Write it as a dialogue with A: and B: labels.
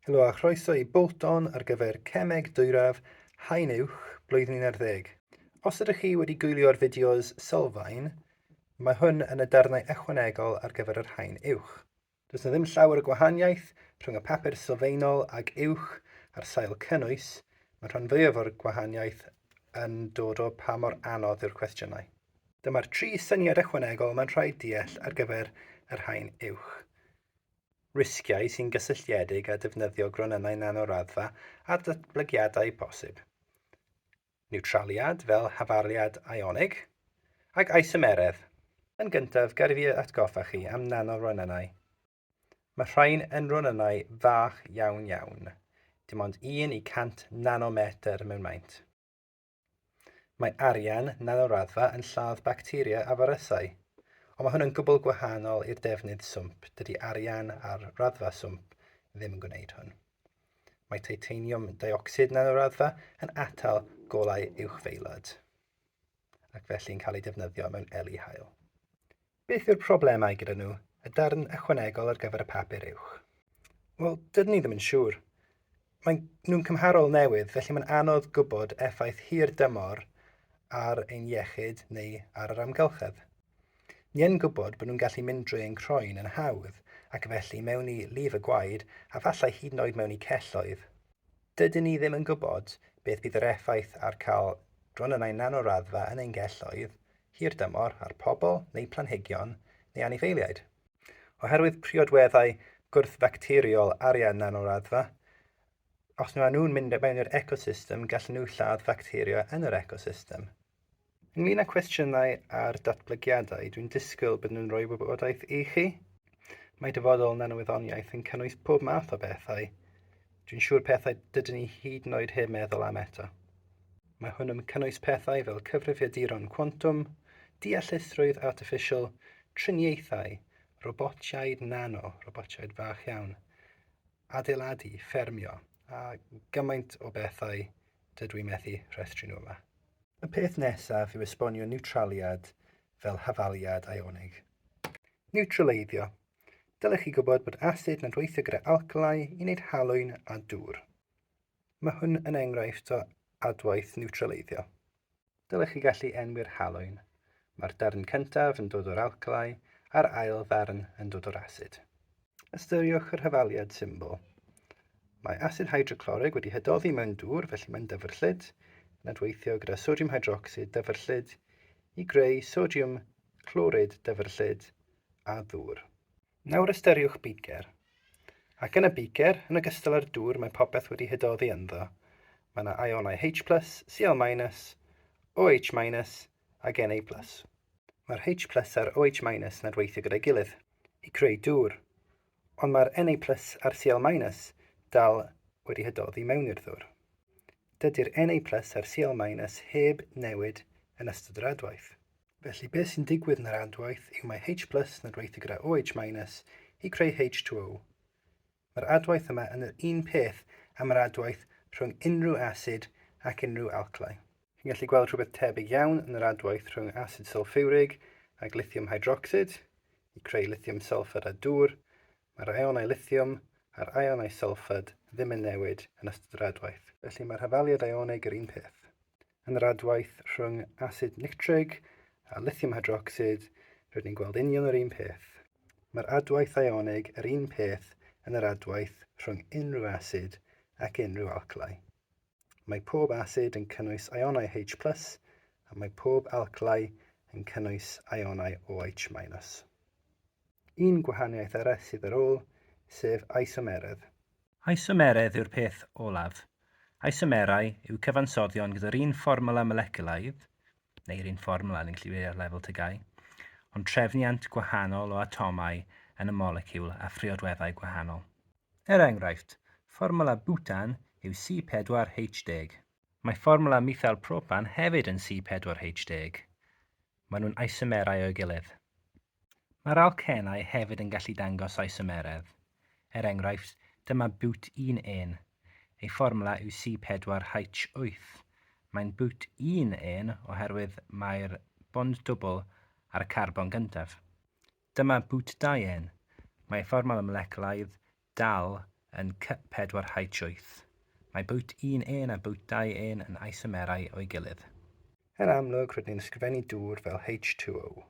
A: Helo a chroeso i Bolton ar gyfer Cemeg Dwyradd Haen Uwch blwyddyn 11. Os ydych chi wedi gwylio'r fideos sylfaen, mae hwn yn y darnau ychwanegol ar gyfer yr Haen Uwch. Does 'na ddim llawer o gwahaniaeth rhwng y papur sylfaenol ag uwch ar sail cynnwys, mae'r rhan fwyaf o'r gwahaniaeth yn dod o pa mor anodd yw'r cwestiynau. Dyma'r tri syniad ychwanegol mae'n rhaid deall ar gyfer yr Haen Uwch. risgiau sy'n gysylltiedig â defnyddio gronynnau nanoraddfa a datblygiadau posib niwtraliad fel hafaliad ionig ac isomeredd. Yn gyntaf, gad i fi atgoffa chi am nanoronynnau. Mae rhain yn ronynnau fach iawn iawn, dim ond 1 i 100 nanometr mewn maint. Mae arian nel o raddfa yn lladd bacteria a firysau. Ond mae hwn yn gwbl gwahanol i'r defnydd swmp, dydy arian ar raddfa swmp ddim yn gwneud hwn. Mae titaniwm deuocsid nel o raddfa yn atal golau uwchfeilod ac felly'n cael ei defnyddio mewn eli haul. Beth yw'r problemau gyda nhw, y darn ychwanegol ar gyfer y papur uwch? Wel, dydyn ni ddim yn siŵr. Mae'n nhw'n cymharol newydd, felly mae'n anodd gwybod effaith hir dymor ar ein iechyd neu ar yr amgylchedd. Ni yn gwybod bod nhw'n gallu mynd drwy ein croen yn hawdd ac felly mewn i lif y gwaed a falle hyd yn oed mewn i celloedd. Dydyn ni ddim yn gwybod beth bydd yr effaith ar cael dronynnau nanoraddfa yn ein celloedd hirdymor ar pobl neu planhigion neu anifeiliaid. Oherwydd priodweddau gwrthfacteriol arian yn y raddfa, os maen nhw'n mynd mewn i'r ecosystem, gallen nhw lladd facteria yn yr ecosystem. Ynglŷn â chwestiynau ar datblygiadau, dwi'n disgwyl byddwn yn rhoi wybodaeth i chi. Mae dyfodol nanowyddoniaeth yn cynnwys pob math o bethau, dwi'n siŵr pethau dydyn ni hyd yn oed heb meddwl am eto. Mae hwn yn cynnwys pethau fel cyfrifiaduron cwantwm, deallusrwydd artiffisial, triniaethau, robotiaid nano, robotiaid fach iawn, adeiladu, ffermio, a gymaint o bethau dydw i methu rhestru nhw yma. Y peth nesaf yw esbonio niwtraliad fel hafaliad ionig. Niwtraleiddio. Dylech chi gwybod bod asid nad weithio gyda alcalau i wneud halwyn a dŵr. Mae hwn yn enghraifft o adwaith niwtraleiddio. Dylech chi gallu enwi'r halwyn. Mae'r darn cyntaf yn dod o'r alcalau a'r ail ddarn yn dod o'r asid. Ystyriwch yr hafaliad symbol. Mae asid hydroclorig wedi hydoddi mewn dŵr felly mae'n dyfrllyd, yn adweithio gyda sodiwm hydrocsid dyfrllyd i greu sodiwm clorid dyfrllyd a ddŵr. Nawr ystyriwch beaker. Ac yn y beaker, yn ogystal â'r dŵr mae popeth wedi hydoddi ynddo. Mae yna ionau H+, Cl-, OH-, ac Na+. Mae'r H+ a'r OH- nad weithio gyda'i gilydd i creu dŵr, ond mae'r Na+ a'r Cl- dal wedi hydoddi mewn i'r ddŵr. Dydy'r Na+ a'r Cl- heb newid yn ystod yr adwaith. Felly beth sy'n digwydd yn yr adwaith yw mae H plus yn adweithio gyda OH minus i creu H2O. Mae'r adwaith yma yn yr un peth am yr adwaith rhwng unrhyw asid ac unrhyw alcli. Chi'n gallu gweld rhywbeth tebyg iawn yn yr adwaith rhwng asid sylffiwrig ac lithiwm hydrocsid i creu lithiwm sylffad a dŵr, mae'r ionau lithiwm a'r ionau sylffad ddim yn newid yn ystod yr adwaith. Felly mae'r hafaliad ionig yr un peth. yn yr adwaith rhwng asid nictrig a lithium hydrocsid, rydyn ni'n gweld union yr un peth. Mae'r adwaith ionig yr un peth yn yr adwaith rhwng unrhyw asid ac unrhyw alclai. Mae pob asid yn cynnwys ionau H plus a mae pob alclai yn cynnwys ionau OH minus. Un gwahaniaeth arall sydd ar ôl, sef isomeredd. Isomeredd
B: yw'r peth olaf. Isomerau yw cyfansoddion gyda'r un fformwla moleculaidd, neu'r un fformwla, ni'n gallu dweud ar lefel tygau, ond trefniant gwahanol o atomau yn y moleciwl a phriodweddau gwahanol. Er enghraifft, fformwla butan yw C4H10. Mae fformwla methayl propan hefyd yn C4H10. Maen nhw'n isomerau o'i gilydd. Mae'r alcenau hefyd yn gallu dangos isomeredd. Er enghraifft, dyma bŵt un ên. Ei fformwla yw C4H8. Mae'n bŵt un ên oherwydd mae'r bond dwbl ar y carbon gyntaf. Dyma bŵt dau ên. Mae fformwla moleculaidd dal yn C4H8. Mae bŵt un ên a bŵt dau ên yn
A: isomerau
B: o'i
A: gilydd. Yn amlwg,
B: rydyn
A: ni'n ysgrifennu
B: dŵr
A: fel H2O.